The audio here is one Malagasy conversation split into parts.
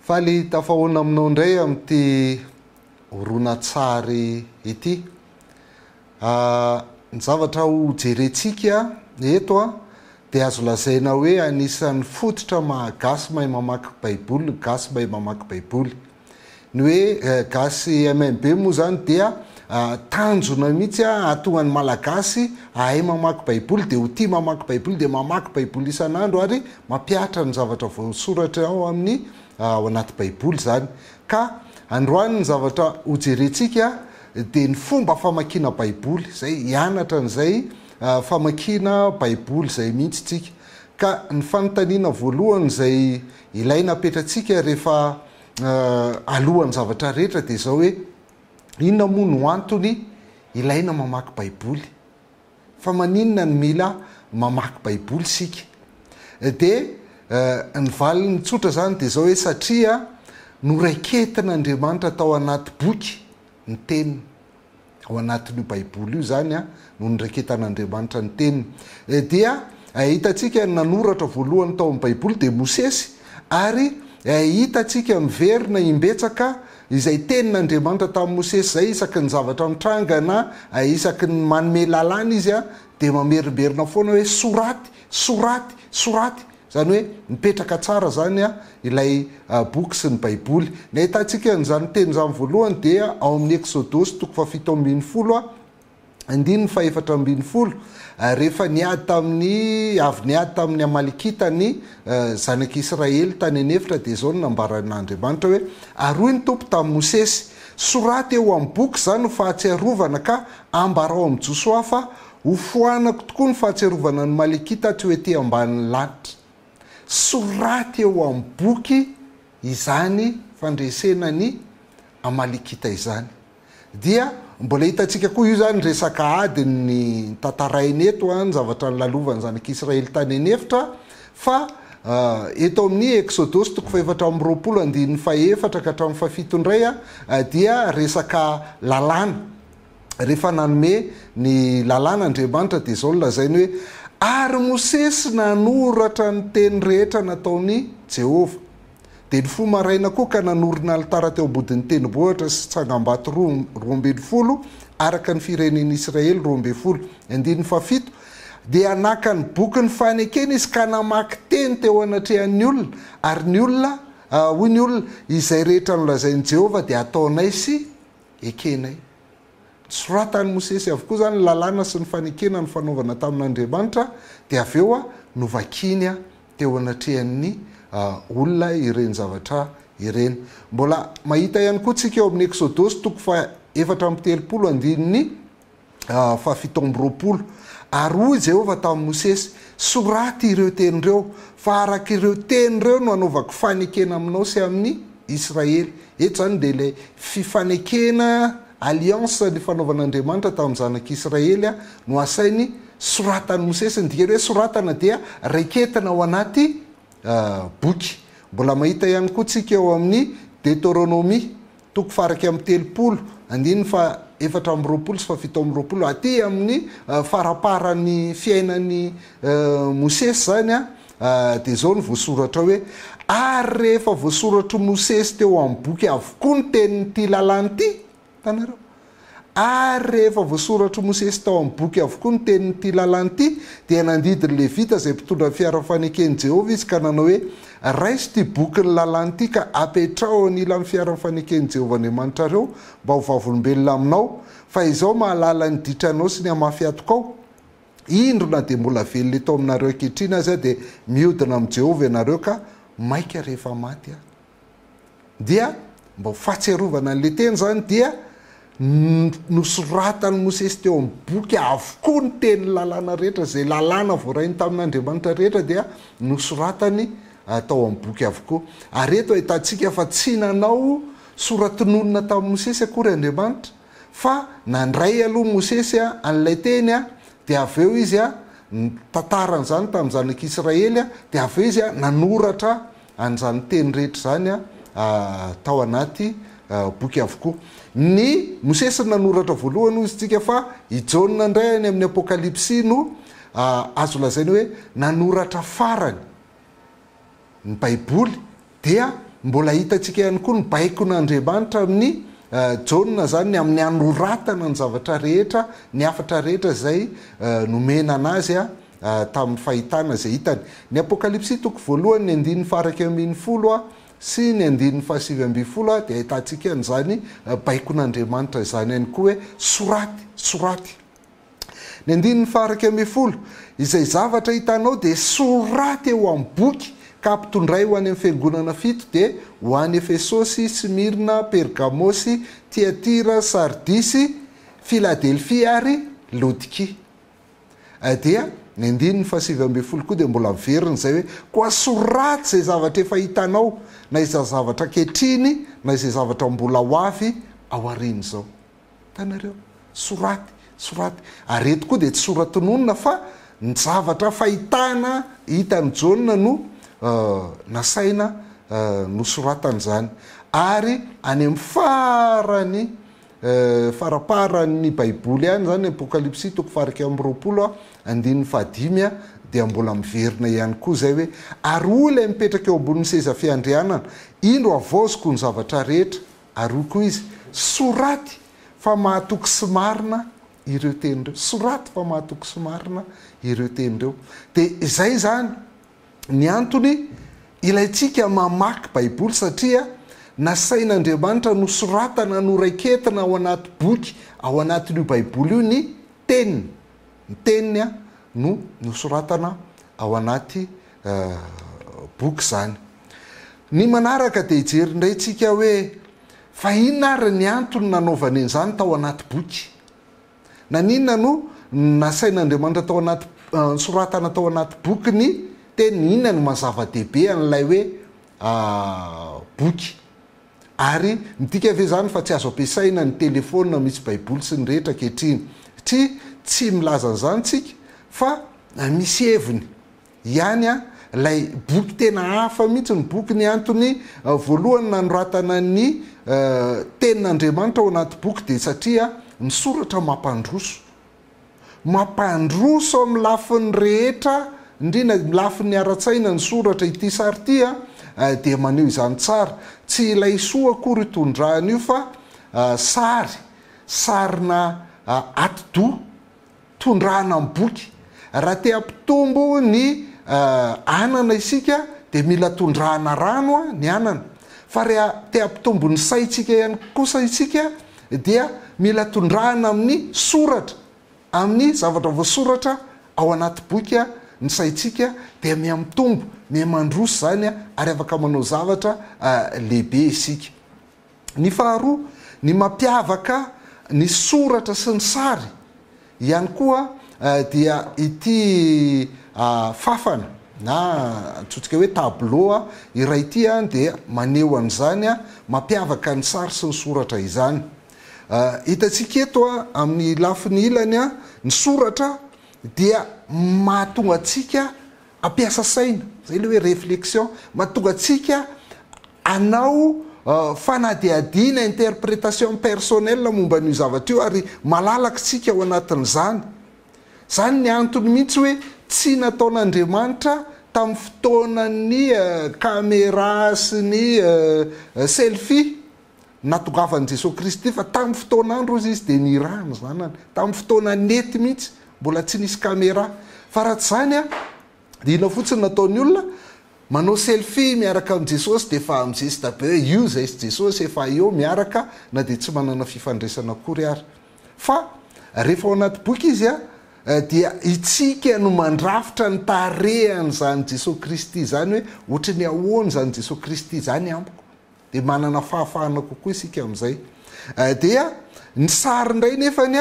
Faly tafahoana aminao indray amin'ity horonantsary ity. Ny zavatra ho jerentsika eto dia azo lazaina hoe anisan'ny fototra maha gasy mahay mamaky baiboly ny gasy mahay mamaky baiboly. Ny hoe gasy MMB moa izany dia tanjona mihitsy hahatonga ny Malagasy hahay mamaky Baiboly, dia ho tia mamaky Baiboly, dia mamaky Baiboly isan'andro ary mampihatra ny zavatra voasoratra ao amin'ny ao anaty Baiboly izany. Ka androany ny zavatra hojerentsika dia ny fomba famakiana Baiboly, izay hianatra an'izay famakiana Baiboly izay mihitsy isika. Ka ny fanontaniana voalohany izay Ilaina apetratsika rehefa alohan'ny zavatra rehetra dia izao hoe, inona moa no antony ilaina mamaky baiboly? Fa maninona no mila mamaky baiboly isika? Dia ny valiny tsotra izany dia izao hoe, satria noraiketin'Andriamanitra tao anaty boky ny teniny. ao anatin'io Baiboly io izany no niraiketan'Andriamanitra ny Teniny. Dia hitantsika ny nanoratra voalohany tao amin'ny Baiboly dia Mosesy, ary hitantsika miverina imbetsaka izay tenin'Andriamanitra tamin'i Mosesy izay, isaky ny zavatra mitranga na isaky ny manome lalàna Izy dia mamerimberina foana hoe soraty, soraty, soraty. Izany hoe mipetraka tsara izany ilay boky sy ny Baiboly. Ny ahitantsika an'izany teny izany voalohany dia ao amin'ny Eksodosy toko fahafito ambin'ny folo andininy fahefatra ambin'ny folo, rehefa niady tamin'ny, avy niady tamin'ny Amalekita ny zanak'i Israely tany an'efitra dia izao no nambaran'Andriamanitra hoe, Aroy ny Tompo tamin'i Mosesy. Soraty eo amin'ny boky izany ho fahatsiarovana ka ambarao amin'i Josoa fa Hofoanako tokoa ny fahatsiarovana an'i Maliki taty ho ety ambanin'ny lanitra. Soraty eo amin'ny boky izany fandresena ny Amalikita izany. Dia mbola hitantsika koa io izany resaka ady ny tantarainy eto, ny zavatra nilalovan'ny zanak'Israely tany an'efitra, fa eto amin'ny Eksodosy toko fahefatra amby roapolo andininy fahefatra ka hatramin'ny fahafito indray dia resaka lalàna. rehefa nanome ny Lalàna Andriamanitra dia izao no lazainy hoe, Ary Mosesy nanoratra ny teny rehetra nataon'i Jehovah. Dia nifoha maraina koa ka nanorina alitara teo am-bodin'ny tenibohitra sy tsangambato roa roa ambin'ny folo, araka ny firenen'ny Israely roa ambin'ny folo. Andininy fahafito, Dia naka ny bokin'ny fanekena izy ka namaky teny teo anatrehan'ny olona, ary ny olona, hoy ny olona, Izay rehetra nolazain'i Jehovah dia ataonay sy ekenay. Nosoratan'i Mosesy avokoa izany ny lalàna sy ny fanekena nifanaovana tamin'Andriamanitra, dia avy eo novakiny teo anatrehan'ny olona ireny zavatra ireny. Mbola mahita ihany koa tsika eo amin'ny Eksodosy toko faha efatra amby telopolo andininy, fahafito amby roapolo. Ary hoy Jehovah tamin'i Mosesy, Soraty ireo teny ireo, fa araka ireo teny ireo no hanaovako fanekena aminao sy amin'i Israely. Eto izany dia ilay fifanekena, alliance, nifanaovan'Andriamanitra tamin'ny zanak'i Israely no asainy soratan'i Mosesy. Ny dikany hoe soratana dia raiketina ao anaty boky. Mbola mahita ihany koa tsika eo amin'ny Deteronomia, Toko faharaika amby telopolo, andininy fahaefatra amby roapolo sy fahafito amby roapolo, aty amin'ny faramparan'ny fiainan'i Mosesy izany dia izao no voasoratra hoe, Ary rehefa voasoratr'i Mosesy teo amin'ny boky avokoa ny tenin'ity lalàna ity, hitanareo? Ary rehefa voasoratr'i Mosesy tao amin'ny boky avokoa ny tenin'ity lalàna ity, dia nandidy ny Levita izay mpitondra ny fiara faneken'i Jehovah izy ka nanao hoe, Raiso ity bokin'ny lalàna ity ka apetraho eo anilan'ny fiara faneken'i Jehovah Andriamanitrareo mba ho vavolombelona aminao, fa izaho mahalala ny ditranao sy ny hamafy atokao. Indro, na dia mbola velona eto aminareo ankehitriny aza dia mihodina amin'i Jehovah ianareo ka maika rehefa maty aho. Dia mba ho fahatsiarovana an'ilay teny izany dia nosoratan'i Mosesy teo amin'ny boky avokoa ny tenin'ny lalàna rehetra, izay lalàna voarainy tamin'Andriamanitra rehetra dia nosoratany tao amin'ny boky avokoa. Ary eto ahitantsika fa tsy nanao sora-tononina tamin'i Mosesy akory Andriamanitra fa nandray aloha Mosesy an'ilay teny dia avy eo izy nitantara an'izany tamin'ny zanak'Israely dia avy eo izy nanoratra an'izany teny rehetra izany tao anaty boky avokoa. Ny Mosesy no nanoratra voalohany hoy isika fa i Jaona indray any amin'ny Apokalypsy no azo lazaina hoe nanoratra farany ny Baiboly dia mbola hitantsika ihany koa ny baikon'Andriamanitra amin'i Jaona izany ny amin'ny hanoratana ny zavatra rehetra, ny hafatra rehetra izay nomena an'azy tamin'ny fahitana izay hitany. Ny Apokalypsy toko voalohany, ny andininy faha-iraika ambin'ny folo sy ny andininy fahasivy ambin'ny folo dia ahitantsika an'izany baikon'Andriamanitra izany ihany koa hoe, Soraty! Soraty! Ny andininy faha-iraika ambin'ny folo, Izay zavatra hitanao dia soraty eo amin'ny boky ka ampitondray ho any amin'ny fiangonana fito dia ho any Efesosy, Smyrna, Pergamosy, Tyatira, Sardisy, Filadelfia ary Laodikia. Dia ny andininy fahasivy ambin'ny folo koa dia mbola averiny izay hoe, Koa soraty izay zavatra efa hitanao, na izay zavatra ankehitriny, na izay zavatra mbola ho avy aorian'izao. Hitanareo? Soraty, soraty. Ary eto koa dia tsy sora-tononina fa ny zavatra fahitana hitan'i Jaona no nasaina nosoratana izany. Ary any amin'ny farany faraparan'ny Baiboly any izany, Apokalypsy toko fahairaka amby roapolo, andininy fahadimy, dia mbola miverina ihany koa izay hoe, Ary hoy ilay mipetraka eo ambonin'ny seza fiandrianana, Indro havaoziko ny zavatra rehetra. Ary hoy koa izy, Soraty fa mahatoky sy marina ireo teny ireo. Soraty fa mahatoky sy marina ireo teny ireo. Dia izay izany. Ny antony, ilaintsika mamaky Baiboly satria nasain'Andriamanitra nosoratana noraiketina ao anaty boky ao anatin'io Baiboly io ny Teniny. Ny Teniny no nosoratana ao anaty boky izany. Ny manaraka dia hijery indray tsika hoe fa inona ary ny antony nanaovany an'izany tao anaty boky. Naninona no nasain'Andriamanitra tao anaty, nosoratana tao anaty boky ny teniny? Inona no maha zava-dehibe an'ilay hoe boky? Ary midika ve izany fa tsy azo ampiasaina ny telefaonina misy Baiboly sy ny rehetra ankehitriny? Tsia, tsy milaza an'izany isika, fa misy heviny ihany a! Ilay boky tena hafa mihitsy ny bokiny, antony voalohany nanoratana ny tenin'Andriamanitra ao anaty boky dia satria ny soratra mampandroso, mampandroso amin'ny lafiny rehetra indrindra ny lafiny ara-tsaina ny soratra, ity sary ity a dia maneho izany tsara, tsy ilay soa akory io tondrahana io fa sary, sarina atidoha, tondrahana amin'ny boky. Raha te hampitombo ny anana isika dia mila tondrahana rano ny anana. Fa raha te hampitombo ny saintsika ihany kosa isika dia mila tondrahana amin'ny soratra, amin'ny zavatra voasoratra ao anaty boky ny saintsika dia mihamitombo, mihamandroso izany ary afaka manao zavatra lehibe isika. Ny faharoa, ny mampiavaka ny soratra sy ny sary ihany koa dia ity fàfana na antsointsika hoe tableau iray ity dia maneho an'izany mampiavaka ny sary sy ny soratra izany. Hitantsika eto amin'ny lafiny ilany ny soratra dia mahatonga antsika Ampiasa saina, izay ilay hoe réflexion, mahatonga antsika hanao fanadihadiana, interprétation personnelle, momba an'io zavatra io ary malalaka isika ao anatin'izany. Izany ny antony mihitsy hoe tsy nataon'Andriamanitra tamin'ny fotoanan'ny camera sy ny selfie natongavan'i Jesoa Kristy fa tamin'ny fotoan'andro hozy Izy dia niraha ny Zanany. Tamin'ny fotoana nety mihitsy, mbola tsy nisy camera. Fa raha tsy izany an, dia inona fotsiny nataon'ny olona? Manao selfie miaraka amin'i Jesosy dia efa mizesta be hoe io izay sy Jesosy efa eo miaraka na dia tsy manana fifandraisana akory ary. Fa rehefa ao anaty boky izy an, dia isika no mandrafitra ny tarehan'izany Jesoa Kristy izany hoe ohatry ny ahoana izany Jesoa Kristy izany amiko. Dia manana fahafahana kokoa isika amin'izay. Dia ny sary indray nefany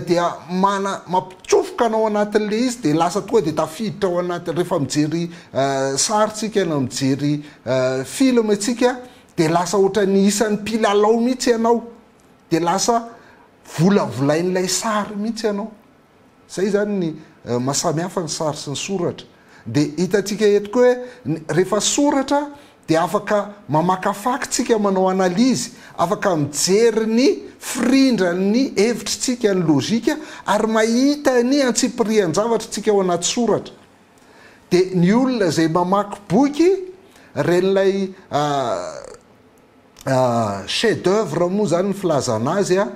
dia mana mampitsofoka anao anatin'ilay izy dia lasa tonga dia tafiditra ao anaty rehefa mijery sary isika na mijery film isika dia lasa ohatran'ny isan'ny mpilalao mihitsy ianao dia lasa volavolain'ilay sary mihitsy ianao. Izay izany ny maha samy hafa ny sary sy ny soratra. Dia hitantsika eto koa hoe rehefa soratra dia afaka mamakafaky isika manao analyse, afaka mijery ny firindran'ny hevitr'isika, ny logika, ary mahita ny antsipirihan-javatra isika ao anaty soratra. Dia ny olona izay mamaky boky, ren'ilay. Chef d'oeuvre moa zany ny filazana azy a,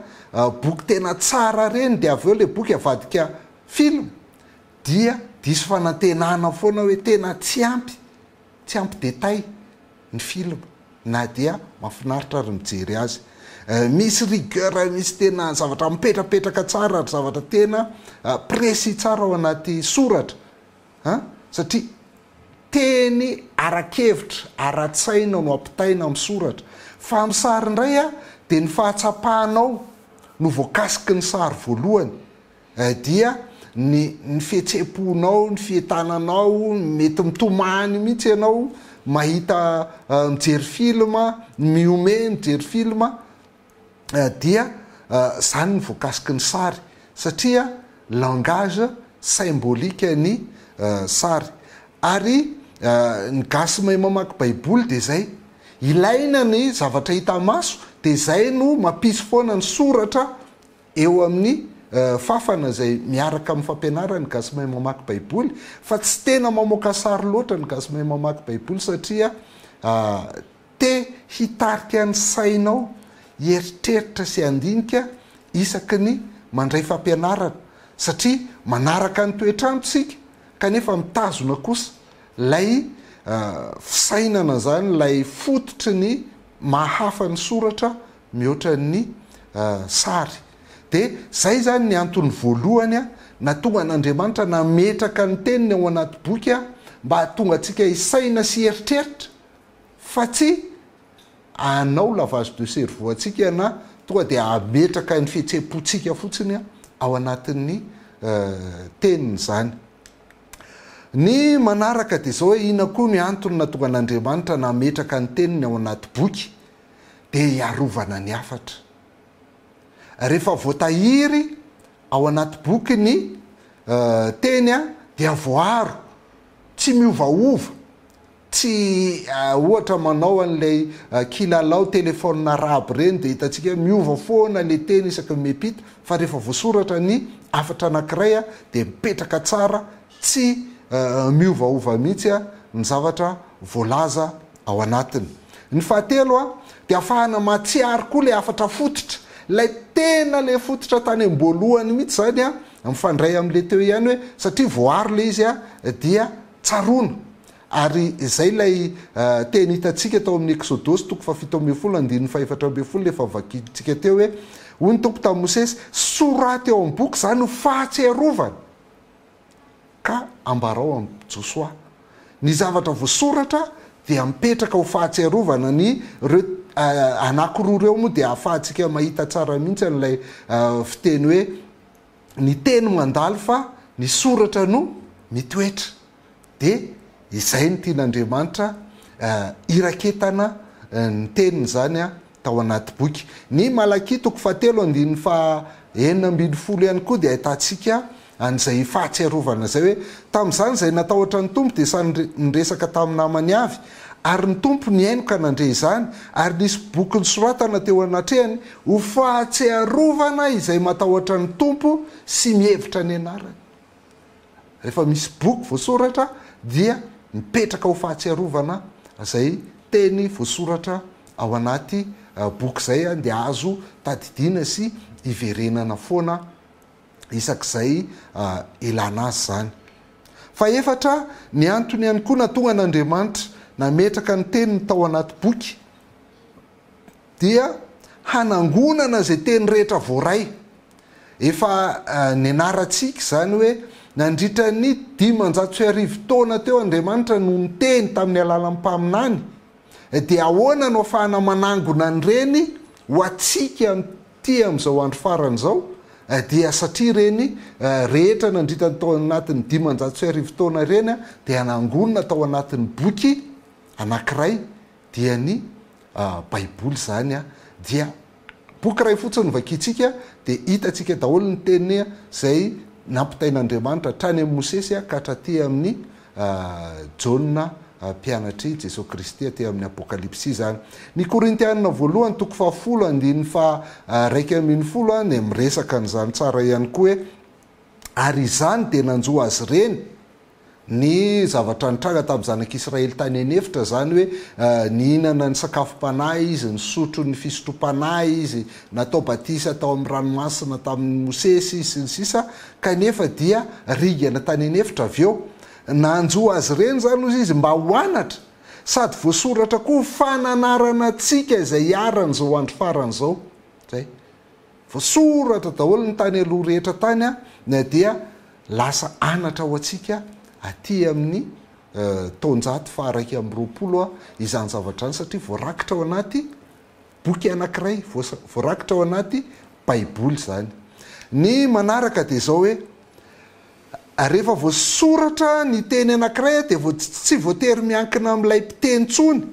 boky tena tsara reny dia avy eo le boky avadika film dia diso fanantenana foana hoe tena tsy ampy, tsy ampy détail ny film na dia mafinaritra ary mijery azy. Misy rigueur, misy tena zavatra mipetrapetraka tsara ary zavatra tena précis tsara ao anaty soratra. An! Satria teny ara-kevitra, ara-tsaina no ampitaina amin'ny soratra. Fa amin'ny sary indray an, dia ny fahatsapanao no voakasiky ny sary voalohany. Eh, dia ny ny fihetsem-ponao, ny fientananao, mety mitomany mihitsy ianao mahita, mijery film, mihomehy mijery film, dia izany ny voakasiky ny sary satria langage symbolique ny sary ary ny gasy mahay mamaky baiboly dia izay ilaina ny zavatra hita maso dia izay no mampisy foana ny soratra eo amin'ny fafana izay miaraka amin'ny fampianaran'ny gasy mahay mamaky baiboly fa tsy tena mamoaka sary loatra ny gasy mahay mamaky baiboly satria Te hitarika ny sainao hieritreritra sy handinika isaky ny mandray fampianarana satria manaraka ny toetr'andro isika kanefa mitazona kosa ilay fisainana izany ilay fototry ny maha hafa ny soratra mihoatra ny sary dia izay izany ny antony voalohany nahatonga an'Andriamanitra nametraka ny teniny ao anaty boky mba hahatonga antsika hisaina sy hieritreritra fa tsy hanao lavage de cerveau antsika na tonga dia hametraka ny fihetseham-pontsika fotsiny ao anatin'ny teniny izany. Ny manaraka dia izao hoe inona koa ny antony nahatonga an'Andriamanitra nametraka ny teniny ao anaty boky? Dia hiarovana ny hafatra. Rehefa voatahiry ao anaty boky ny teny dia voaaro, tsy miovaova Tsy ohatra manao an'ilay kilalao téléphone arabe ireny dia hitantsika hoe miova foana ilay teny isaky ny miampita fa rehefa voasoratra ny hafatra anankiray dia mipetraka tsara tsy miovaova mihitsy ny zavatra voalaza ao anatiny. Ny fahatelo dia afahana mahatsiaro koa ilay hafatra fototra, ilay tena ilay fototra tany am-boalohany mihitsy izany mifandray amin'ilay teo ihany hoe satria voaaro ilay izy dia tsaroana. Ary izay ilay teny hitantsika tao amin'ny Eksodosy toko fahafito ambin'ny folo andininy fahefatra ambin'ny folo ilay efa vakintsika teo hoe, Hoy ny Tompo tamin'i Mosesy, Soraty eo amin'ny boky izany ho fahatsiarovana, ka ambarao amin'i Josoa. Ny zavatra voasoratra dia mipetraka ho fahatsiarovana. Ny ireo anankiroa ireo moa dia ahafahantsika mahita tsara mihitsy an'ilay fiteny hoe, Ny teny mandalo fa ny soratra no mitoetra. dia izay no tian'Andriamanitra hiraketana ny teniny izany tao anaty boky. Ny Malakia toko fahatelo andininy faha enina ambin'ny folo ihany koa dia ahitantsika an'izay fahatsiarovana izay hoe, Tamin'izany izay natahotra ny Tompo dia samy niresaka tamin'ny namany avy, ary ny Tompo nihaino ka nandre izany, ary nisy boky nisoratana teo anatrehany ho fahatsiarovana izay matahotra ny Tompo sy mihevitra ny anarany. Rehefa misy boky voasoratra dia mipetraka ho fahatsiarovana izay teny voasoratra ao anaty boky izay dia azo tadidiana sy iverenana foana isak'izay ilana azy izany. Fahefatra, ny antony ihany koa natongan'Andriamanitra nametraka ny teniny tao anaty boky, dia hanangonana izay teny rehetra voaray. Efa nianarantsika izany hoe nandritra ny dimanjato sy arivo taona teo Andriamanitra no niteny tamin'ny alalan'ny mpaminany, dia ahoana no afahana manangona an'ireny ho antsika amin'ity amin'izao andro farany izao? Dia satria ireny rehetra nandritany tao anatin'ny dimanjato sy arivo taona ireny dia nangonina tao anatin'ny boky anankiray, dia ny Baiboly izany dia boky iray fotsiny no vakintsika dia hitantsika daholo ny teniny izay nampitain'Andriamanitra hatrany amin'i Mosesy ka hatraty amin'i Jaona mpianatr'i Jesoa Kristy aty amin'ny Apokalypsy izany. Ny Korintianina voalohany toko fahafolo andininy faharaika ambin'ny folo dia miresaka an'izany tsara ihany koa hoe ary izany dia nanjo azy ireny ny zavatra nitranga tamin'ny zanak'Israely tany an'efitra, izany hoe nihinana ny sakafom-panahy izy, nisotro ny fisotrom-panahy izy, natao batisa tao amin'ny ranomasina tamin'i Mosesy izy, sy ny sisa Kanefa dia ringana tany an'efitra avy eo. Nanjo azy ireny izany, hoy izy, mba ho anatra, sady voasoratra koa ho fananarana antsika izay hiharan'izao andro farany izao. Izay. Voasoratra daholo ny tany aloha rehetra tany a, na dia lasa anatra ho antsika aty amin'ny taonjato faha-iraika amby roapolo a, izany zavatra izany, satria voarakitra ao anaty boky anankiray, voarakitra ao anaty baiboly izany. Ny manaraka dia izao hoe, rehefa voasoratra ny teny anankiray dia tsy voatery miankina amin'ilay mpiteny intsony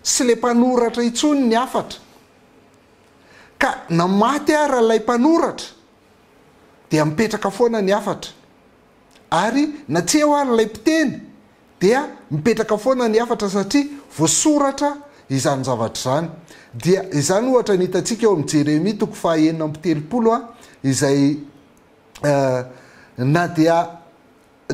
sy ilay mpanoratra intsony ny hafatra. Ka na maty ara ilay mpanoratra dia mipetraka foana ny hafatra, ary na tsy eo ara ilay mpiteny dia mipetraka foana ny hafatra satria voasoratra izany zavatra izany. Dia izany ohatra no hitantsika eo amin'ny Jeremia toko faha enina amby telopolo izay na dia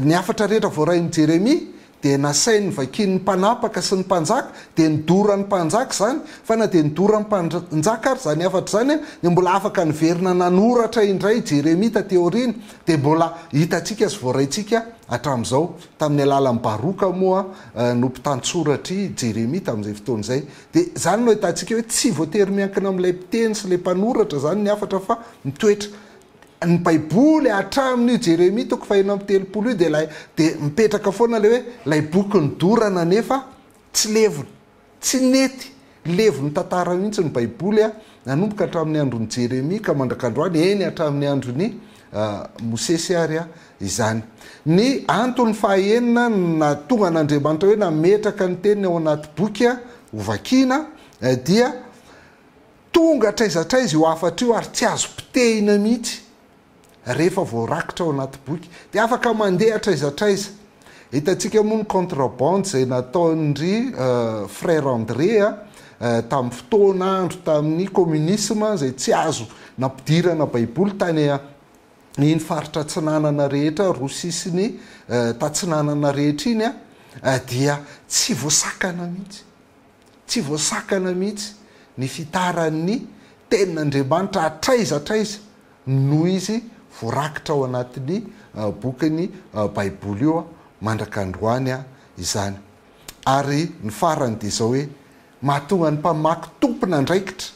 Ny hafatra rehetra voarain'i Jeremia dia nasainy vakian'ny mpanapaka sy ny mpanjaka, dia nidoran'ny mpanjaka izany, fa na dia nidoran'ny mpanjaka ary izany hafatra izany dia mbola afaka niverina nanoratra indray i Jeremia taty aoriana, dia mbola hitantsika sy voaraintsika hatramin'izao. Tamin'ny alalan'i Baroka moa no mpitantsoratr'i Jeremia tamin'izay fotoana izay. Dia izany no ahitantsika hoe tsy voatery miankina amin'ilay mpiteny sy ilay mpanoratra izany ny hafatra fa mitoetra Ny baiboly hatramin'io Jeremia toko faheno amby telopolo io dia ilay dia mipetraka foana ilay hoe ilay boky nodorana nefa tsy levona, tsy nety levon'ny tantara mihitsy ny baiboly a, nanomboka hatramin'ny andron'i Jeremia ka mandrak'androany, eny hatramin'ny andron'i Mosesy ary izany. Ny antony fahaenina nahatonga an'Andriamanitra hoe nametraka ny teniny ao anaty boky hovakiana dia Tonga hatraiza hatraiza io hafatra io ary tsy azo potehina mihitsy rehefa voarakitra ao anaty boky dia afaka mandeha hatraiza hatraiza. Hitantsika moa ny contrabande izay nataon-dry Frère André tamin'ny fotoana andro tamin'ny communisme izay tsy azo nampidirana baiboly tany iny faritra atsinanana rehetra roa sisiny tatsinanana rehetra iny dia tsy voasakana mihitsy. Tsy voasakana mihitsy ny fitaran'ny Tenin'Andriamanitra hatraiza hatraiza noho izy voarakitra ao anatin'ny bokin'ny Baiboly io mandrak'androany izany. Ary ny farany dia izao hoe, Mahatonga ny mpamaky tompon'andraikitra.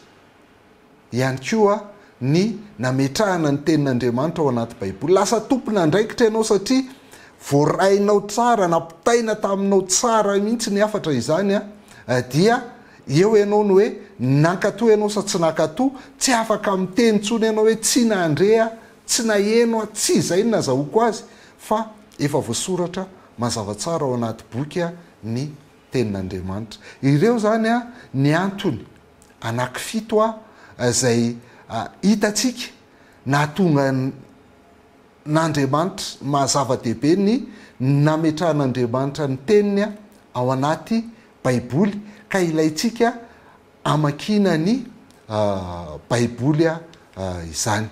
ihany koa ny nametrahana ny Tenin'Andriamanitra ao anaty Baiboly. Lasa tompon'andraikitra ianao satria voarainao tsara, nampitaina taminao tsara mihitsy ny hafatra izany dia eo ianao ny hoe nankatò ianao sa tsy nankatò, tsy afaka miteny intsony ianao hoe tsy nandre aho, tsy naheno aho, tsy izay no nazahoako azy fa efa voasoratra mazava tsara ao anaty boky ny Tenin'Andriamanitra. Ireo izany ny antony anankifito izay hitantsika nahatonga an'Andriamanitra maha zava-dehibe ny nametrahan'Andriamanitra ny teniny ao anaty baiboly ka ilaintsika hamakiana ny baiboly izany.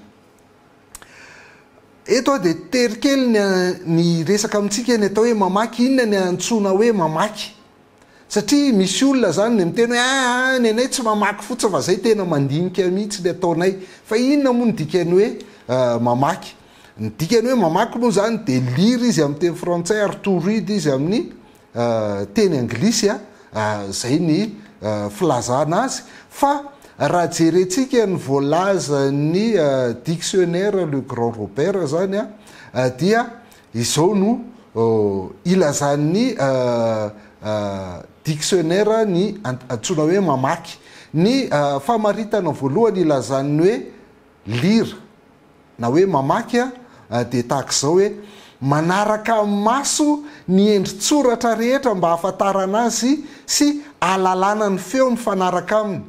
Eto aho dia tery kely ny resaka amintsika ny atao hoe mamaky, inona ny antsoina hoe mamaky? Satria misy olona zany ny miteny hoe aa ny anay tsy mamaky fotsiny fa zay tena mandinika mihitsy ny ataonay fa inona moa ny dikany hoe mamaky? ny dikany hoe mamaky moa zany de lire izy amin'ny teny frantsay ary to read izy amin'ny teny anglisy a zay ny filazana azy fa raha jerentsika ny voalazan'ny dictionnaire le grand Robert zany a dia Izao no ilazan'ny diksionera ny antsoina hoe mamaky. Ny famaritana voalohany ilazan'ny hoe lira na hoe mamaky dia tahaka izao hoe manaraka amin'ny maso ny endri-tsoratra rehetra mba hahafantarana azy sy ahalalana ny feo mifanaraka aminy.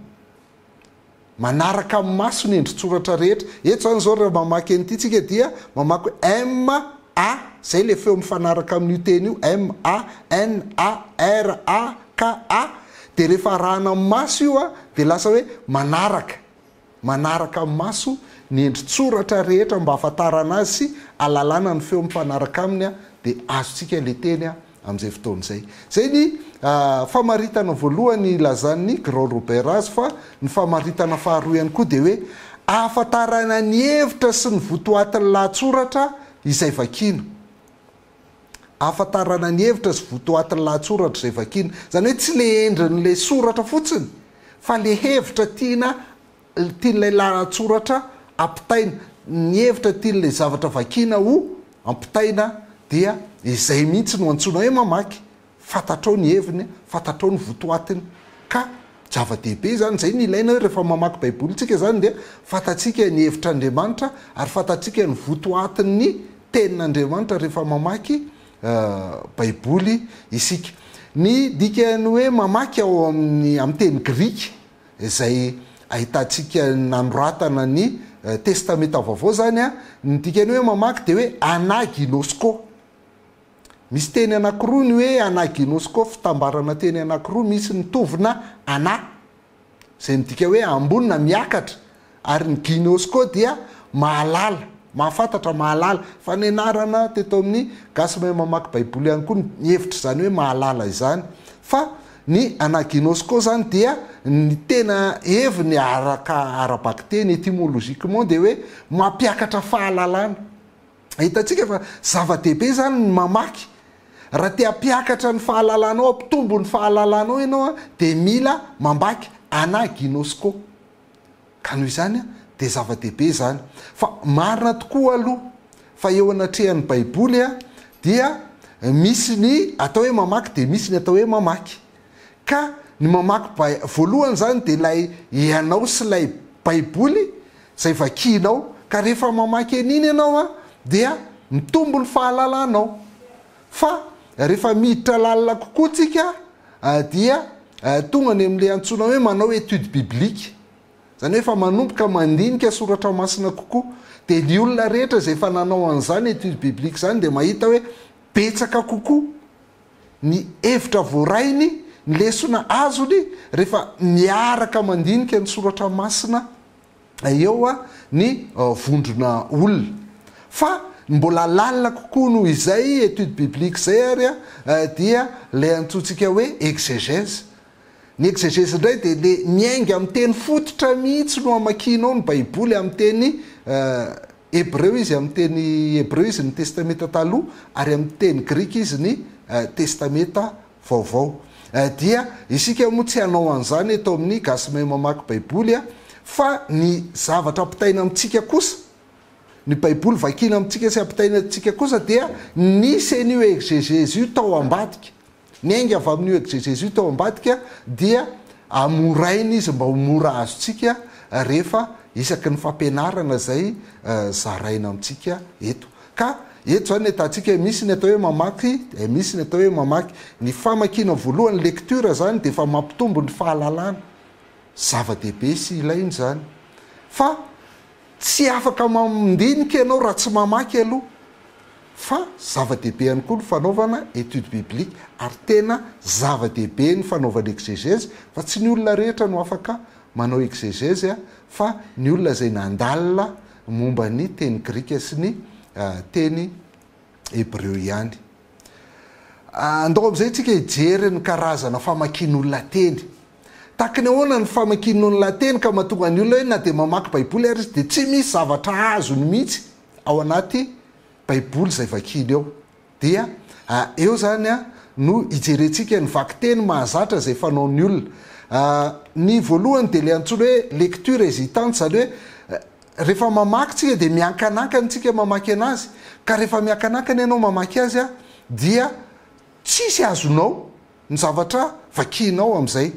Manaraka amin'ny maso ny endri-tsoratra rehetra. Eto izany izao raha mamaky an'ity tsika dia mamaky hoe M, A, izay ilay feo mifanaraka amin'io teny io, M, A, N, A, R, A, K, A. Dia rehefa arahana amin'ny maso io dia lasa hoe manaraka. Manaraka amin'ny maso ny endri-tsoratra rehetra mba hahafantarana azy sy alalana ny feo mifanaraka aminy dia azontsika ilay teny amin'izay fotoana izay. Izay ny famaritana voalohany ilazan'i Grand Robert azy fa ny famaritana faharoa ihany koa dia hoe ahafantarana ny hevitra sy ny votoatin'ny lahatsoratra izay vakiana. Ahafantarana ny hevitra sy votoatin'ny lahatsoratra izay vakiana. Izany hoe tsy ilay endrin'ilay soratra fotsiny fa ilay hevitra tiana Ny tian'ilay lahatsoratra ampitaina, ny hevitra tian'ilay zavatra vakiana ho ampitaina dia izay mihitsy no antsoina hoe mamaky, fantatrao ny heviny, fantatrao ny votoatiny ka zava-dehibe izany, izay no ilaina hoe rehefa mamaky Baiboly isika izany dia fantatsika ny hevitr'Andriamanitra ary fantatsika ny votoatin'ny Tenin'Andriamanitra rehefa mamaky Baiboly isika. Ny dikan'ny hoe mamaky ao amin'ny amin'ny teny grika izay ahitantsika nanoratana ny Testamenta Vaovao izany, ny dikan'ny hoe mamaky dia hoe ana ginosko. Misy teny anankiroa ny hoe ana ginosko, fitambarana teny anankiroa misy mitovina ana, izay midika hoe ambony na miakatra, Ary ny Ginos koa dia mahalala, mahafantatra, mahalala. Fa nianarana teto amin'ny Gasy Mahay Mamaky Baiboly ihany koa ny hevitra izany hoe mahalala izany. Fa ny anà Ginos koa izany dia ny tena heviny araka ara-bakiteny, etymologiquement, dia hoe mampiakatra fahalalana. Hitantsika fa zava-dehibe izany ny mamaky. Raha te hampiakatra ny fahalalanao, hampitombo ny fahalalanao ianao, dia mila mamaky anà Ginos koa. Ka noho izany dia zava-dehibe izany. Fa marina tokoa aloha fa eo anatrehan'ny Baiboly dia misy ny atao hoe mamaky dia misy ny atao hoe mamaky. Ka ny mamaky Bai, voalohany izany dia ilay ianao sy ilay Baiboly izay vakianao. Ka rehefa mamaky an'iny ianao dia mitombo ny fahalalanao. Fa rehefa miditra lalina kokoa tsika dia tonga any amin'ilay antsoina hoe manao étude biblique, izany hoe efa manomboka mandinika soratra masina kokoa. Dia ny olona rehetra izay efa nanao an'izany étude biblique izany dia mahita hoe betsaka kokoa ny hevitra voarainy, ny lesona azony rehefa miaraka mandinika ny soratra masina. eo ny vondrona olona. Fa ny mbola lalina kokoa noho izay étude biblique izay ary dia ilay antsointsika hoe exégèse. Ny exégèse indray dia ilay miainga amin'ny teny fototra mihitsy no amakianao ny baiboly amin'ny teny hebreo izy amin'ny teny hebreo izy ny testamenta taloha ary amin'ny teny grika izy ny testamenta vaovao. Eh dia isika moa tsy hanao an'izany eto amin'ny Gasy Mahay Mamaky Baiboly a! Fa ny zavatra ampitaina amintsika kosa, ny Baiboly vakiana amintsika sy ampitaina amintsika kosa dia nisy an'io egzegèzy io tao ambadika. Niainga avy amin'io egzegèzy io tao ambadika dia amoraina izy mba ho mora azontsika rehefa isaky ny fampianarana izay zaraina amintsika eto. Ka eto izany ny ahitantsika hoe misy ny atao hoe mamaky dia misy ny atao hoe mamaky. Ny famakiana voalohany, lecture, izany dia efa mampitombo ny fahalalana. Zava-dehibe sy ilaina izany. Fa tsy afaka mandinika ianao raha tsy mamaky aloha. Fa zava-dehibe ihany koa ny fanaovana étude biblique. Ary tena zava-dehibe ny fanaovana exégèse fa tsy ny olona rehetra no afaka manao exégèse fa ny olona izay nandalina momba ny teny grika sy ny teny hebreo ihany. Andao amin'izay isika hijery ny karazana famakian'olona teny. Tahaka ny ahoana ny famakian'olona teny ka mahatonga ny olona hoe na dia mamaky Baiboly ary izy dia tsy misy zavatra azony mihitsy ao anaty Baiboly izay vakiany ao. Dia a eo izany a no hijerentsika ny vakiteny mahazatra izay fanaon'ny olona. A ny voalohany dia ilay antsoina hoe lecture hésitante, izany hoe rehefa mamaky tsika dia miankanankana tsika mamaky anazy, ka rehefa miankanankana ianao mamaky azy a dia tsisy azonao. Ny zavatra vakianao amin'izay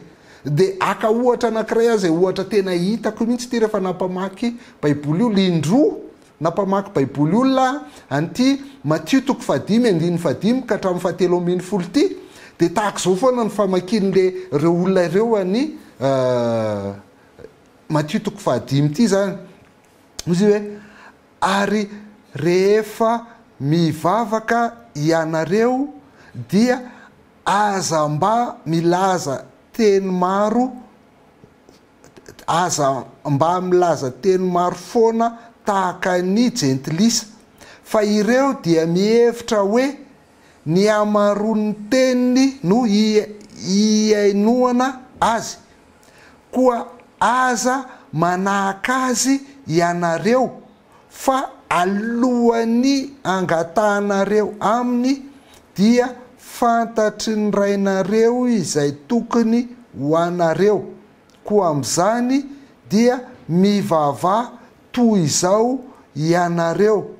dia haka ohatra anankiray aho izay ohatra tena hitako mihitsy ity rehefa nampamaky baiboly olona indroa nampamaky baiboly olona an'ity Matio toko fahadimy andininy fahadimy ka hatramin'ny fahatelo ambin'ny folo ity dia tahaka izao foana ny famakian'ilay ireo olona ireo an'i Matio toko fahadimy ity izany Izy hoe, Ary rehefa mivavaka ianareo, dia aza mba milaza teny maro, aza mba milaza teny maro foana tahaka ny jentilisa, fa ireo dia mihevitra hoe Ny hamaroan'ny teniny no hihainoana azy. Koa aza manahaka azy ianareo, fa alohan'ny hangatahanareo aminy, dia fantatry ny Rainareo izay tokony ho anareo. Koa amin'izany dia mivavaha Toy izao Hianareo,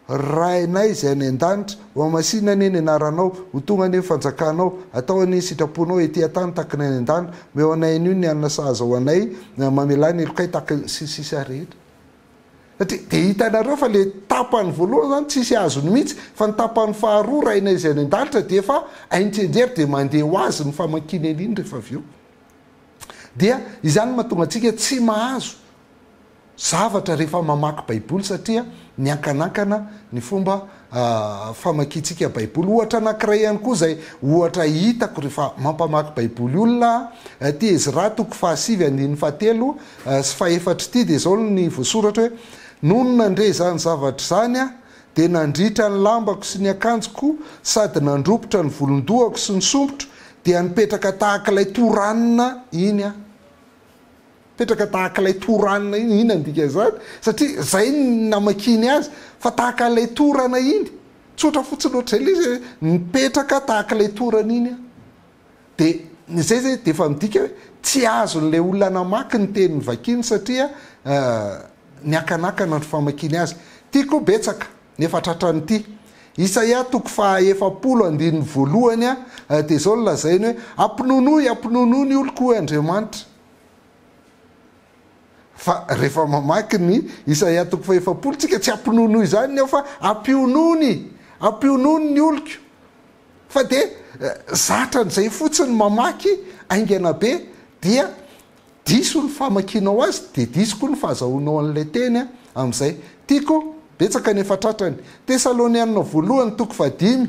Rainay Izay any An-danitra, hohamasina anie ny Anaranao, ho tonga anie ny fanjakanao, hatao anie ny sitraponao ety an-tany tahaka ny any an-danitra, omeo anay anio ny hanina sahaza ho anay, mamelà ny helokay tahaka ny sy ny sisa rehetra. Satria dia hitanareo fa ilay tapany voalohany izany tsisy azony mihitsy, fa ny tapany faharoa Rainay Izay any An-danitra dia efa hainy tsianjery dia mandeha ho azy ny famakiana an'iny rehefa avy eo. Dia izany no mahatonga antsika tsy mahazo. zavatra rehefa mamaky Baiboly satria miankanankana ny fomba famakiantsika Baiboly. Ohatra anankiray ihany koa izay ohatra hitako rehefa mampamaky Baiboly olona aho, ity Ezra toko fahasivy andininy fahatelo sy fahefatra ity dia izao ny voasoratra hoe, Nony nandre izany zavatra izany aho dia nandritra ny lambako sy ny akanjoko sady nandrobotra ny volon-dohako sy ny sompitro dia nipetraka tahaka ilay toranina iny aho. Petraka tahaka ilay toranana iny, inona no dikan'izany? Satria izay no namakiany azy, fa tahaka ilay torana iny. Tsotra fotsiny ohatr'izay ilay izy hoe, mipetraka tahaka ilay torana iny aho. Dia izay izay dia efa midika hoe tsy azon'ilay olona namaky ny teny novakiany satria niakanakana andro famakiany azy. Ity koa betsaka, nefa tratran'ity. Isaia toko faha efapolo andininy voalohany dia izao no lazainy hoe, Ampinonoy, ampinonoy ny oloko, hoy Andriamanitra. Fa rehefa mamaky ny Isaia toko fahefapolo tsika, tsy hampinonoa izany ny aho fa hampionony, hampionony ny oloko. Fa dia zatra an'izay fotsiny mamaky haingana be dia diso ny famakianao azy dia diso koa ny fahazahoanao an'ilay teny amin'izay. Tiako betsaka ny efa tratrany. Tesalonianina voalohany toko fahadimy.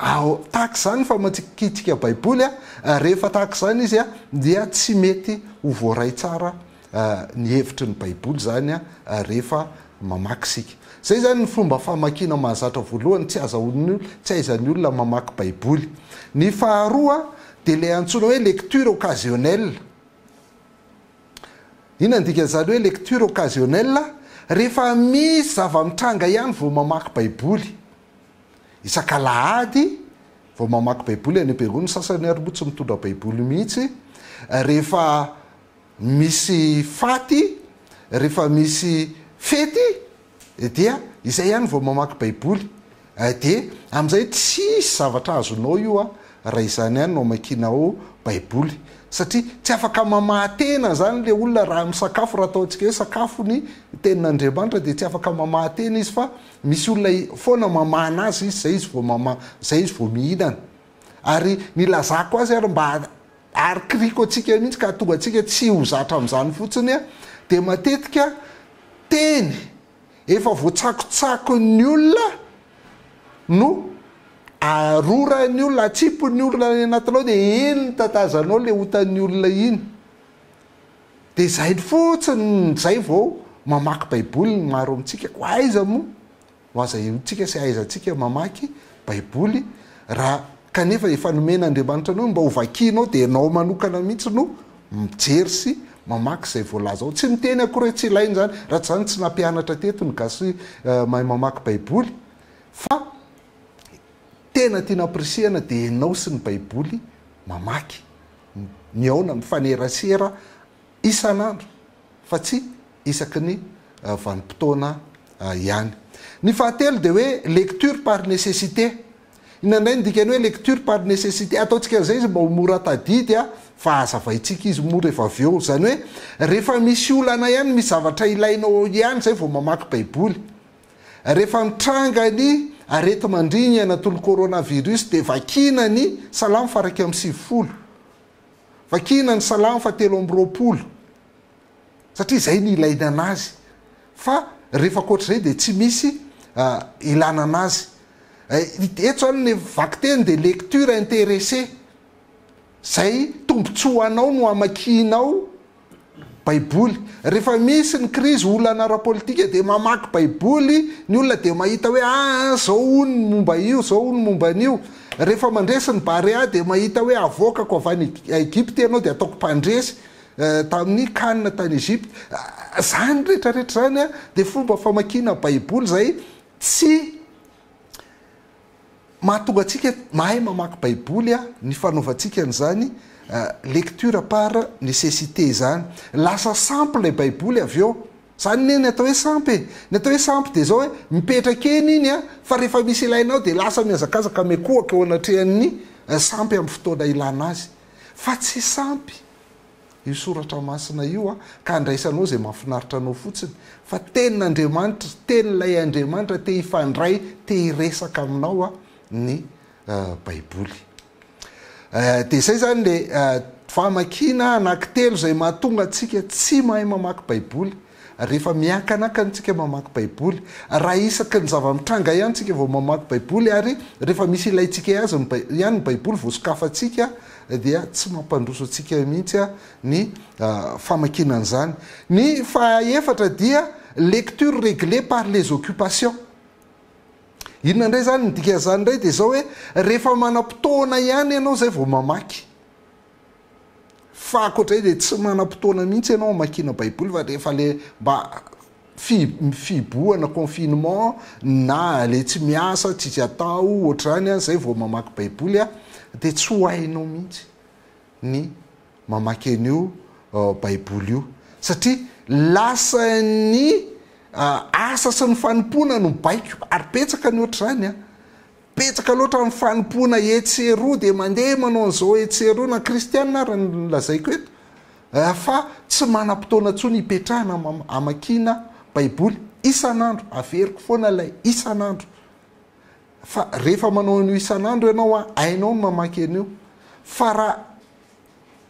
Ao, tahaka izany ny famakiantsika Baiboly, rehefa tahaka izany izy dia tsy mety ho voaray tsara ny hevitry ny Baiboly izany rehefa mamaky isika. Izay izany ny fomba famakiana mahazatra voalohany, tsy azahoan'ny, tsy ahaizan'ny olona mamaky Baiboly. Ny faharoa dia ilay antsoina hoe lecture occasionnelle. Inona ny dikan'izany hoe lecture occasionnelle? Rehefa misy zava-mitranga ihany vao mamaky Baiboly. Isak'alahady vao mamaky baiboly any Berou ny sasany ary moa tsy mitondra baiboly mihitsy, rehefa misy faty, rehefa misy fety dia izay ihany vao mamaky baiboly, dia amin'izay tsisy zavatra azonao io raha izany ihany no amakianao baiboly, satria tsy afaka mamaha-tena izany ilay olona raha misakafo, raha ataontsika hoe sakafo ny tenin'Andriamanitra dia tsy afaka mamaha-tena izy fa Misy olona foana mamahana azy izy, zay izy vao mama, zay izy vao mihinana. Ary nilazako azy ary mba arikiriko antsika mihitsy ka hahatonga antsika tsy ho zatra amin'izany fotsiny dia matetika teny efa voatsakotsakon'ny olona no aroran'ny olona, atsipin'ny olona any anatinao dia iny no tatazanao le otan'ny olona iny. Dia izay fotsiny izay vao mamaky Baiboly ny maro amintsika. Koa aiza moa no aza hihoantsika sy hahaizantsika mamaky Baiboly raha kanefa efa nomen'Andriamanitra anao ny mba hovakianao dia ianao manokana mihitsy no mijery sy mamaky izay voalaza ao. Tsy miteny akory hoe tsy ilaina izany raha tsy izany tsy nampianatra teto ny gasy mahay mamaky Baiboly fa tena tiana ampirisihana dia ianao sy ny Baiboly mamaky. Mihaona mifanerasera isan'andro fa tsy isaky ny vanim-potoana ihany. Ny fahatelo dia hoe lecture par nécessité. Inona indray ny dikan'ny hoe lecture par nécessité? Ataontsika an'izay izy mba ho mora tadidy fa hazavaintsika izy moa rehefa avy eo. Izany hoe rehefa misy olana ihany, misy zavatra ilainao ihany izay vao mamaky Baiboly. Rehefa nitranga ny areti-mandringana toy ny coronavirus dia vakiana ny Salamo faharaika amby sivifolo, vakiana ny Salamo fahatelo amby roapolo satria izay no ilaina an'azy fa rehefa ankoatr'izay dia tsy misy ilana an'azy. Eto izany ny vakiteny dia lecture intéressée, izay tombontsoa anao no hamakianao, Baiboly. Rehefa misy ny krizy, olana ara-politika dia mamaky Baiboly ny olona dia mahita hoe aa izao hono ny momba io, izao hono ny momba an'io. Rehefa mandresy ny Barea dia mahita hoe avoakako avy any Egypta ianao dia ataoko mpandresy tamin'ny kanina tany Egypta. Izany rehetra rehetra izany dia fomba famakiana Baiboly izay tsy Mahatonga antsika mahay mamaky baiboly aho ny fanaovantsika an'izany lecture par necessite izany. Lasa sampy ilay baiboly avy eo. Izany anie ny atao hoe sampy e! Ny atao hoe sampy dia izao hoe mipetraka eny iny an, fa rehefa misy ilainao dia lasa mihazakazaka mikohaka eo anatrehan'ny sampy amin'ny fotoana ilana azy. Fa tsy sampy. io soratra masina io ka handraisanao izay mahafinaritra anao fotsiny fa tenin'Andriamanitra, tenin'ilay Andriamanitra te hifandray, te hiresaka aminao ny Baiboly. Dia izay izany le famakiana anankitelo izay mahatonga antsika tsy mahay mamaky Baiboly. Rehefa miankanaka antsika mamaky Baiboly, raha isaky ny zava-mitranga ihany isika vao mamaky Baiboly ary rehefa misy ilaintsika ihany ny Baiboly vao sokafantsika dia tsy mampandroso antsika mihitsy ny famakiana an'izany. Ny fahaefatra dia lecture reglée par les occupations. Inona indray izany? Ny dikan'izany indray dia izao hoe rehefa manam-potoana ihany ianao izay vao mamaky. Fa ankoatra izay dia tsy manam-potoana mihitsy ianao hamakiana Baiboly fa rehefa ilay mba fihibohana, confinement, na ilay tsy miasa, tsisy atao, ohatr'izany, izay vao mamaky Baiboly, dia tsy ho hainao mihitsy ny mamaky an'io Baiboly io. Satria lasan'ny asa sy ny fanompoana no baiko, ary betsaka ny ohatr'izany an! Betsaka loatra ny fanompoana etsy sy eroa dia mandeha manao an'izao etsy sy eroa na kristiana ary ny lazaiko eto fa tsy manam-potoana intsony ipetrahana amakiana baiboly isan'andro averiko foana ilay isan'andro fa rehefa manao an'io isan'andro ianao hainao ny mamaky an'io fa raha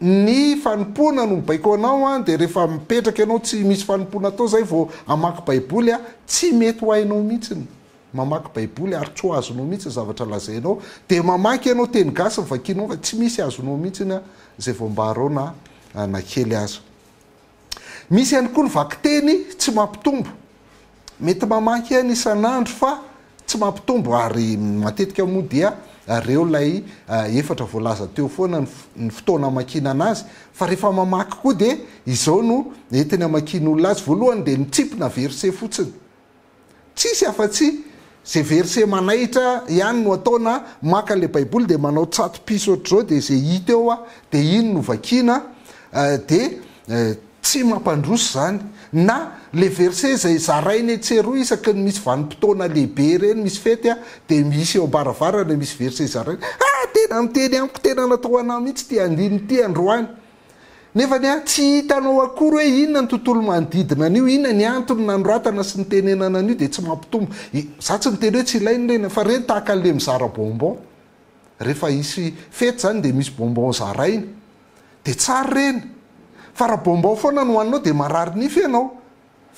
ny fanompoana no baiko anao an dia rehefa mipetraka ianao tsy misy fanompoana atao zay vao hamaky baiboly an tsy mety ho hainao mihitsy ny mamaky baiboly ary tsy ho azonao mihitsy ny zavatra lazainao dia mamaky ianao teny gasy ny vakinao fa tsy misy azonao mihitsy an zay vao ambarao na na kely aza Misy ihany koa ny vakiteny tsy mampitombo. Mety mamaky aina isan'andro fa tsy mampitombo ary matetika moa dia reo ilay efatra voalaza teo foana ny fotoana amakiana anazy fa rehefa mamaky koa dia izao no entiny amakian'olona azy, voalohany dia mitsimpina verset fotsiny. Tsisy afa-tsy ze verset manaitra ihany no atao na maka le baiboly de manao tsato-piso ohatr'izao de ze hita eo a de iny no vakiana de tsy mampandroso zany na le verset zay zaraina etsy sy eroa isaky ny misy vanim-potoana lehibe ireny misy fety a de misy eo am-baravarana misy verset zaraina ah tena niteny amiko tena natao ho anah mihitsy ty andininy ty androany Nefa anie tsy hitanao akory hoe inona ny tontolo manodidina an'io, inona ny antony nanoratana sy nitenenana an'io dia tsy mampitombo. Izaho tsy niteny hoe tsy ilaina ilay inona fa ireny tahaka an'ilay mizara bonbon. Rehefa hisy fety izany dia misy bonbon zaraina. Dia tsara ireny. Fa raha bonbon foana no hohaninao dia marary nify ianao.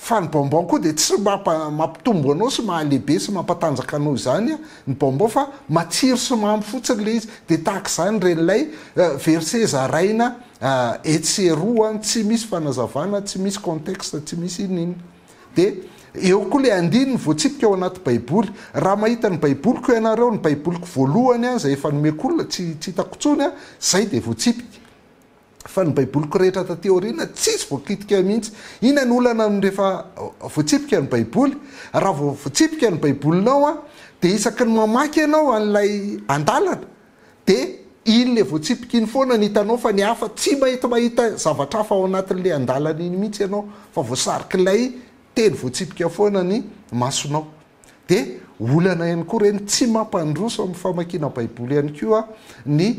Fa ny bonbon koa dia tsy mampitombo anao sy mahalehibe sy mampatanjaka anao izany ny bonbon fa matsiro sy mamy fotsiny ilay izy. Dia tahaka izany ireny ilay verset zaraina etsy sy eroa tsy misy fanazavana, tsy misy contexte, tsy misy inona inona. Dia eo koa ilay andininy voatsipika ao anaty baiboly. Raha mahita ny baiboliko ianareo, ny baiboliko voalohany izay efa nomeko olona, tsy hitako intsony, izay dia voatsipika. Fa ny Baiboliko rehetra taty aoriana tsisy voakitika ahy mihitsy. Inona no olana ny rehefa voatsipika ny Baiboly? Raha vao voatsipika ny Baibolinao an, dia isaky ny mamaky ianao an'ilay andalana, dia iny le voatsipika iny foana no hitanao fa ny hafa tsy mety mahita zavatra hafa ao anatin'ilay andalana iny mihitsy ianao fa voasarik'ilay teny voatsipika foana ny masonao. Dia olana ihany koa ireny tsy mampandroso amin'ny famakiana Baiboly ihany koa ny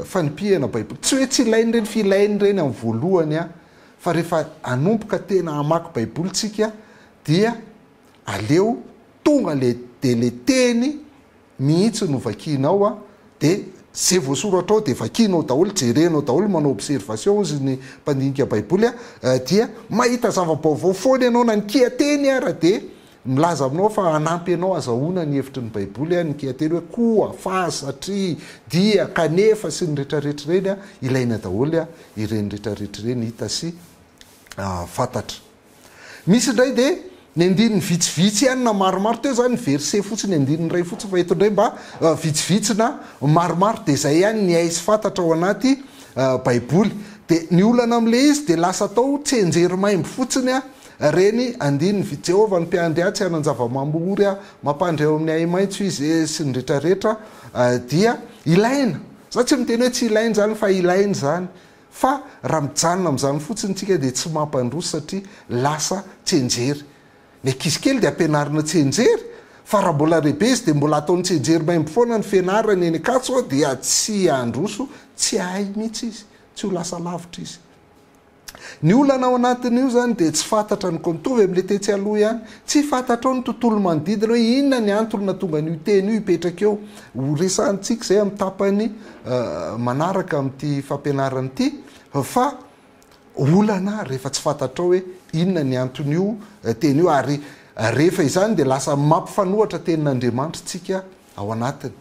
fanipihana Baiboly. Tsy hoe tsy ilaina ireny fa ilaina ireny amin'ny voalohany fa rehefa hanomboka tena hamaky Baiboly isika dia aleo tonga ilay dia ilay teny mihitsy no vakianao a dia ze voasoratra ao dia vakianao daholo jerenao daholo manao observation hozy ny mpandinika baiboly a dia mahita zava-baovao foana ianao na ny kiateny ara dia milaza aminao fa hanampy anao hazahoana ny hevitry ny baiboly a ny kiateny hoe koa fa satria dia kanefa sy ny retraretra ireny a ilaina daholo a ireny retraretra ireny hita sy fantatra. Misy indray dia ny andininy vitsivitsy ihany na maromaro, teo izany ny verset fotsiny, andininy iray fotsiny, fa eto indray mba vitsivitsy na maromaro, dia izay ihany ny hay sy fantatra ao anaty baiboly. Dia ny olana amin'ilay izy dia lasa atao tsenjery maimbo fotsiny ireny andininy vitsivitsy, Jehovah ny mpiandry ahy, tsy hanan-java-mamory aho, mampandry ahy ao amin'ny ahi-maitso izy, sy ny rehetrarehetra dia ilaina. Izaho tsy miteny hoe tsy ilaina izany fa ilaina izany, Fa raha mijanona amin'izany fotsiny isika dia tsy mampandroso satria lasa tsianjery. Ny ankizy kely dia ampianarina tsianjery fa raha mbola lehibe izy dia mbola ataony tsianjery maimbo foana ny fianarany eny Ankatso ao dia tsy handroso, tsy hahay mihitsy izy, tsy ho lasa lavitra izy. Ny olana ao anatin'io izany dia tsy fantatra ny kon, mitovy amin'ilay tetsy aloha ihany, tsy fantatrao ny tontolo manodidina hoe inona ny antony nahatonga an'io teny io hipetraka eo. Ho resahantsika izay amin'ny tapany manaraka amin'ity fampianarana ity fa olana rehefa tsy fantatrao hoe inona ny anton'io teny io ary rehefa izany dia lasa mampifanohatra tenin'Andriamanitra tsika ao anatiny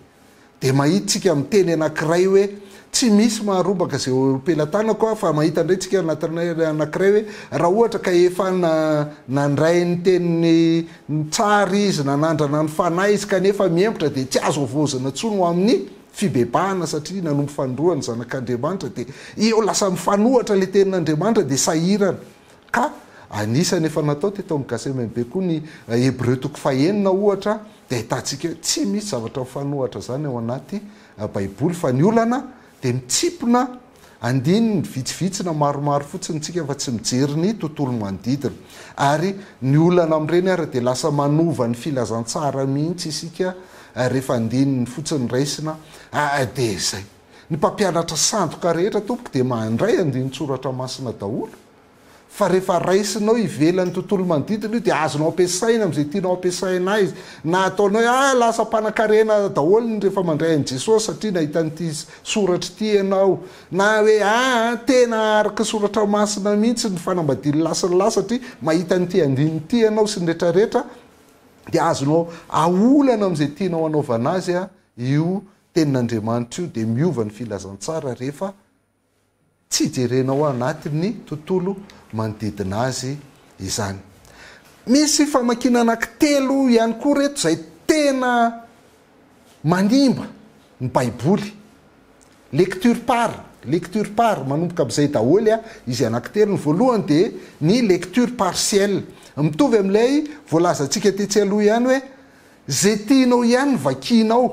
dia mahita tsika miteny anankiray hoe tsy misy maharobaka izay eo am-pelatanako aho fa mahita indray tsika anatiny anankiray hoe raha ohatra ka efa nandray ny teniny tsara izy nanandrana ny fanahy izy kanefa miempotra dia tsy azo havaozina intsony ho amin'ny fibebahana satria nanompo fanindroany zanak'Andriamanitra dia eo lasa mifanohatra ilay tenin'Andriamanitra dia sahirana ka anisany efa natao teto amin'ny Gacmb koa ny Hebreo toko fahenina ohatra dia ahitantsika hoe tsy misy zavatra mifanohatra izany ao anaty Baiboly fa ny olana dia mitsimpona Andininy vitsivitsy na maromaro fotsiny tsika fa tsy mijery ny tontolo manodidina. Ary ny olana amin'ireny ary dia lasa manova ny filazantsara mihitsy isika rehefa andininy fotsiny raisina ary dia izay. Ny mpampianatra sandoka rehetra tompoko dia mandray andinin-tsoratra masina daholo. fa rehefa raisinao ivelan'ny tontolo manodidina io dia azonao ampiasaina amin'izay tianao ampiasaina azy na ataonao hoe ah lasa mpanankarena daholo ny rehefa mandray an'i Jesosy satria nahita an'ity soratra ity ianao na hoe ah tena araka ny soratra masina mihitsy ny fanambadian'i lahy sy ny lahy satria mahita an'ity andininy ity ianao sy ny retraretra dia azonao aolana amin'izay tianao anaovana azy io tenin'Andriamanitra io dia miova ny filazantsara rehefa Tsy jerena ao anatin'ny tontolo manodidina azy izany. Misy famakiana anankitelo ihany koa ireto izay tena manimba ny Baiboly. Lecture par, lecture par, manomboka amin'izay daholo izy anankitelo. Ny voalohany dia ny lecture partielle. Mitovy amin'ilay voalazantsika tetsy aloha ihany hoe, izay tianao ihany no vakianao.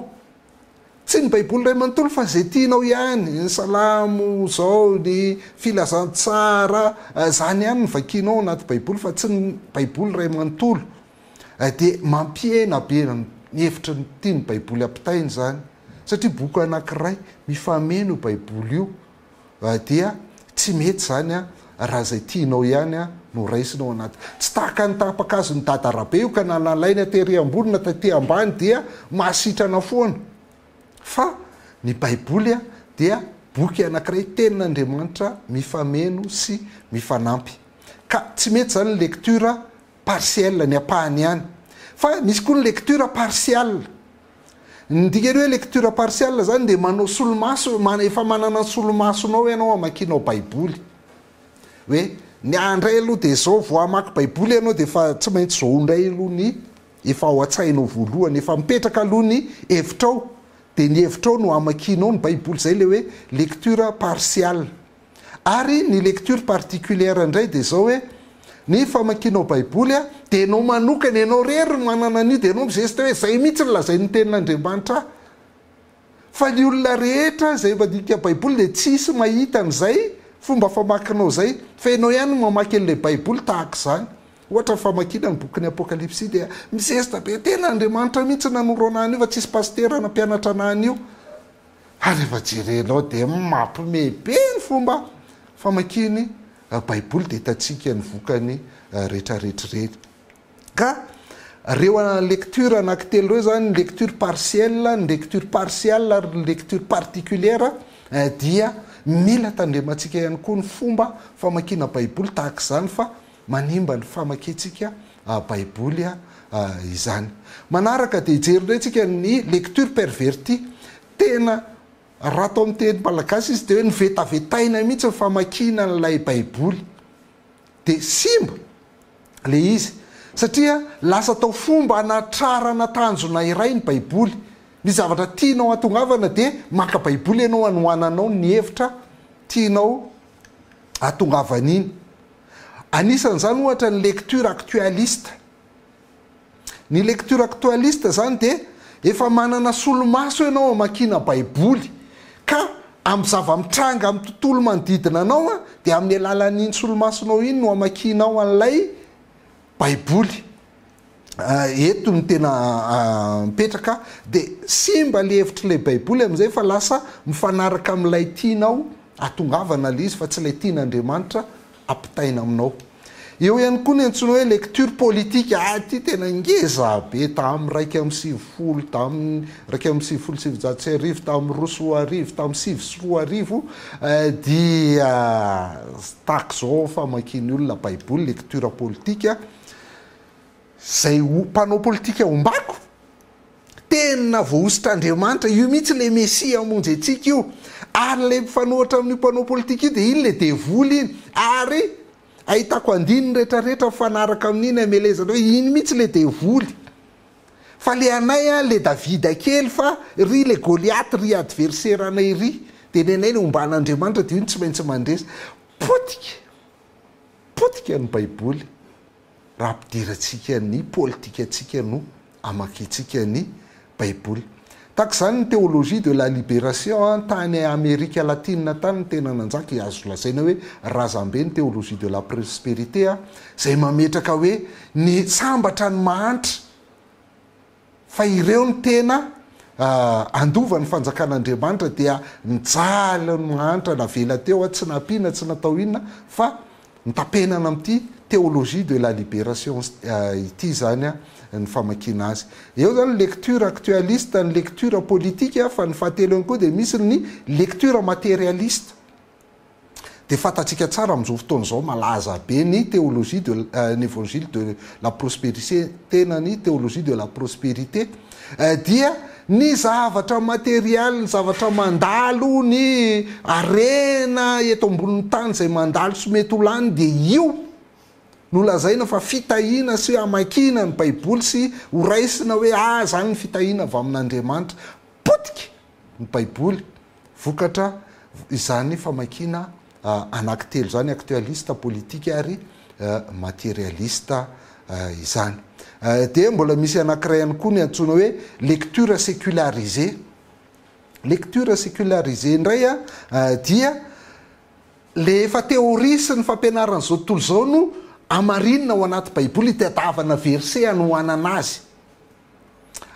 Tsy ny baiboly iray manontolo fa izay tianao ihany, ny salamo izao, ny filazantsara, izany ihany no vakianao ao anaty baiboly fa tsy ny baiboly iray manontolo. Dia mampihena be ny hevitra tian'ny baiboly ampitaina izany satria boky anankiray, mifameno io baiboly io dia tsy mety izany an, raha izay tianao ihany an no raisina ao anaty. Tsy tahaka ny taham-pakazon'i dada rabe io ka na nalaina tery ambony na taty ambany dia mahasitrana foana. Fa ny baiboly an dia boky anakiray tenin'Andriamanitra mifameno sy mifanampy. Ka tsy mety izany ny lecture Partielle, ny ampahany ihany. Fa misy koa ny lecture partiale. Ny dikan'ny hoe lecture partiale izany dia manao solomaso, efa manana ny solomasonao ianao hamakianao Baiboly. Hoe ny ahy indray aloha dia izao vao hamaky Baiboly ianao dia efa tsy maintsy izao indray aloha ny efa ao an-tsainao voalohany, efa mipetraka aloha ny hevitrao, dia ny hevitrao no hamakianao ny Baiboly. Izay ilay hoe lecture partiale. Ary ny lecture particulière indray dia izao hoe, ny famakianao baiboly a, dia ianao manokana, ianao irery no manana an'io, dia ianao mi-geste hoe izay mihitsy no lazain'ny tenin'Andriamanitra ahy. Fa ny olona rehetra izay mandinika baiboly dia tsy hisy mahita an'izay fomba famakinao izay, fa ianao ihany no mamaky an'ilay baiboly tahaka izany. Ohatra ny famakiana ny bokin'ny Apokalypsy dia mi-geste be, tenin'Andriamanitra mihitsy no nanoro anahy an'io fa tsy hisy pasitera na mpianatra anahy an'io. Ary rehefa jerenao dia mampme be ny fomba famakiany baiboly dia hitantsika ny vokany retraretra ireny. Ka reo lecture anaky telo reo zany ny lecture partielle, ny lecture partial ary ny lecture particulière dia mila tandremantsika ihany koa ny fomba famakiana baiboly tahaka izany fa manimba ny famakiantsika Baiboly izany. Manaraka dia hijery indray tsika ny lecture pervertie. Tena raha atao amin'ny teny malagasy izy dia hoe novetavetaina mihitsy ny famakiana an'ilay Baiboly. Dia simba ilay izy satria lasa atao fomba hanatrarana tanjona iray ny Baiboly. Ny zavatra tianao hahatongavana dia maka Baiboly ianao hanohananao ny hevitra tianao hahatongavan'iny. Anisan'izany ohatra ny lecture actualiste. Ny lecture actualiste izany dia efa manana solomaso ianao hamakiana Baiboly, ka amin'ny zava-mitranga amin'ny tontolo manodidina anao dia amin'ny alalan'iny solomasonao iny no hamakianao an'ilay Baiboly. eto no tena mipetraka dia simba ilay hevitr'ilay baiboly amin'izay fa lasa mifanaraka amin'ilay tianao atongavana ilay izy fa tsy ilay tian'Andriamanitra ampitaina aminao. Eo ihany koa ny antsoina hoe lecture politique, ah ity tena ngeza be, tamin'ny iraika amby sivifolo, tamin'ny iraika amby sivifolo sy sivinjato sy arivo, tamin'ny roa sy roa arivo, tamin'ny sivy sy roa arivo eh, dia tahaka izao famakian'ny olona baiboly, lecture politique, Zay ho mpanao politika ombako? Tena voahosotr'Andriamanitra, io mihitsy ilay Mesia hamonjy antsika io. Ary ilay mifanohitra amin'io mpanao politika io dia iny ilay devoly iny. Ary ahitako andininy rehetra rehetra mifanaraka amin'iny hamelezana hoe iny mihitsy ilay devoly. Fa ilay anay an, ilay Davida kely fa ry ilay Goliath ry adversaire anay ry. Dia ny anay ilay omban'Andriamanitra dia io no tsy maintsy mandresy. Potika! potika ny baiboly raha ampidirantsika ny politikantsika no amakintsika ny baiboly. Tahaka izany ny Théologie de la Libération tany Amerika Latina tany no tena nanjaka i azo lazaina hoe razambe ny Théologie de la Prosperité izay mametraka hoe ny sambatra ny mahantra Fa ireo no tena handova ny fanjakan'Andriamanitra dia mijaly ny mahantra navela teo aho, tsy nampiana, tsy natao inona fa notapenana amin'ity Théologie de la libération ity izany ny famakiana azy. Eo izany ny lecture actualiste, ny lecture politique fa ny fahatelo ihany koa dia misy ny lecture matérialiste. Dia fantatsika tsara amin'izao fotoana izao malaza be ny théologie de l'Evangile de la prospérité tena ny théologie de la prospérité dia ny zavatra matériel, ny zavatra mandalo, ny harena eto ambonin'ny tany izay mandalo sy mety ho lany dia io no lazaina fa fitahiana sy hamakiana ny baiboly sy ho raisina hoe ah izany ny fitahiana avy amin'Andriamanitra. Potika! ny Baiboly, vokatra izany famakiana anankitelo izany, aktoalista, politika ary materialista izany. Dia mbola misy anankiray ihany koa ny antsoina hoe lecture sécularisée. Lecture sécularisée indray dia le efa théorie sy ny fampianaran'izao tontolo izao no amarinina ao anaty Baiboly, itadiavana verset anohanana azy.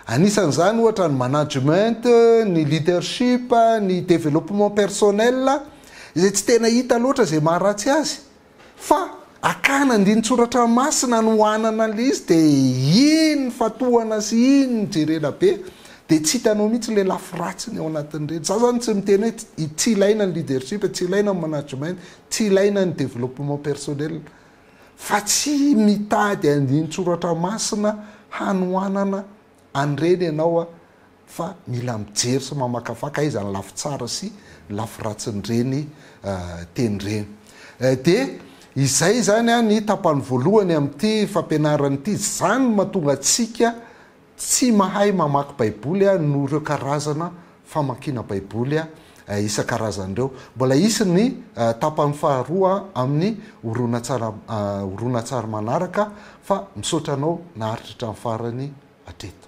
Anisan'izany ohatra ny management, ny leadership, ny développement personnel izay tsy tena hita loatra izay maharatsy azy fa akana andinin-tsoratra masina anohanana an'ilay izy dia iny fa tohana sy iny no jerena be dia tsy hitanao mihitsy ilay lafy ratsiny ao anatin'ireny. Izaho izany tsy miteny hoe tsy ilaina ny leadership, tsy ilaina ny management, tsy ilaina ny développement personnel fa tsy mitady andinin-tsoratra masina hanohanana an'ireny ianao fa mila mijery sy mamakafaka aiza ny lafy tsara sy ny lafy ratsin'ireny teny ireny. Dia izay izany ny tapany voalohany amin'ity fampianarana ity. Izany no mahatonga antsika Tsy mahay mamaky baiboly aho noho ireo karazana famakiana baiboly isan-karazany ireo. Mbola hisy ny tapany faharoa amin'ny horonantsary manaraka fa misaotra anao naharitra hatramin'ny farany hatreto.